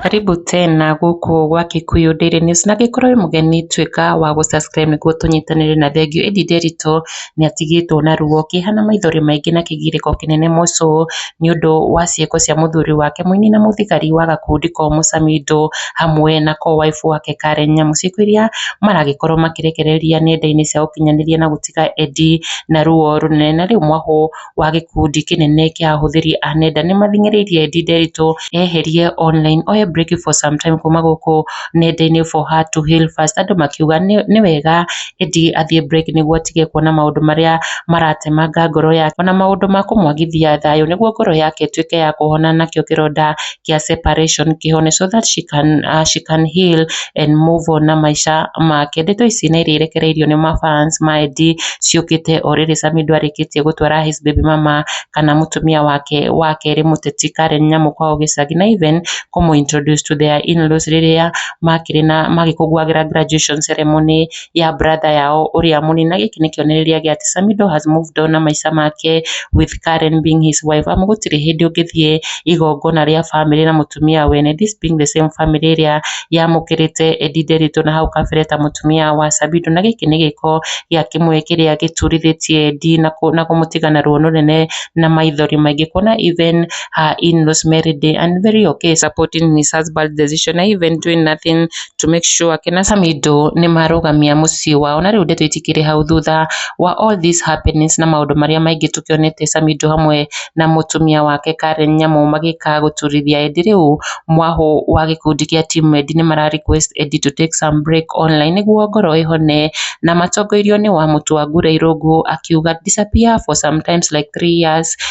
Karibu tena gũkũ gwa Kikuyu Daily News na angĩkorwo wĩ mũgeni tuĩka wa gũ subscribe nĩguo tũnyitanĩre na thengiũ. Ĩndĩ Nderitu nĩ atigĩtwo na ruo, kĩeha na maithori maingĩ na kĩgirĩko kĩnene mũcũ. nĩũndũ wa ciĩko cia mũthuri wake mũini na mũthigari wa gakundi ko Mũcamindo hamwe na ko wife wake Karen Nyamu, ciĩko iria maragĩkorwo makĩrekereria nenda-inĩ cia ũkinyanĩria na gũtiga Eddy na ruo rũnene. Na rĩu mwahũ wa gĩkundi kĩnene kĩa ahũthĩri a nenda nĩmathing'ĩrĩirie Eddy Nderitu eherie online, oye break for some time kuma gũkũ nenda-inĩ for her to heal first andũ makiuga nĩ wega Eddie athiĩ break nĩguo atige kuona maũndũ marĩa maratemanga ngoro yake ona maũndũ ma kũmwagithia thayũ nĩguo ngoro yake ĩtuĩke ya kũhona nakĩo kĩronda kĩa separation kĩhone so that she can, uh, she can heal and move on na maica make ndeto ici nĩ irĩrekereirio nĩ mafans ma Eddie ciũkĩte o rĩrĩ Sami ndwarĩkĩtie gũtwara his baby mama kana mũtumia wake wa kerĩ mũteti Karen Nyamũkwa Ũgĩcagi na even kũmũ introduce to their in-laws rĩrĩa makĩrĩ na magĩkũngũagĩra graduation ceremony ya brother yao ũrĩa mũnini, na gĩkĩ nĩ kĩonereria gĩa atĩ Samido has moved on na maica make with Karen being his wife, amu gũtirĩ hĩndĩ ũngĩthiĩ igongona rĩa bamĩrĩ na mũtumia wene, this being the same family ĩrĩa yamũkĩrĩte Eddy Nderitu na hau kabere ta mũtumia wa Samido, na gĩkĩ nĩ gĩko gĩa kĩmwe kĩrĩa gĩturithĩtie Eddy na kũmũtiga na ruo rũnene na maithori maingĩ, kuona even her in-laws married her and very okay supporting his husband's decision even doing nothing to make sure kena Samido nĩ marũgamia mũciĩ wao na rĩu ndĩtwĩtikĩre hau thutha wa all these happenings na maũndũ marĩa maingĩ tũkĩonete Samido hamwe na mũtumia wake Karen Nyamũ magĩka gũturithia Edi rĩu mwahũ wa gĩkundi kĩa team Edi nĩ mara request Edi to take some break online nĩguo ngoro ĩhone na matongoirio nĩ wa mũtu wa ngura irũngũ akiuga disappear for sometimes like three years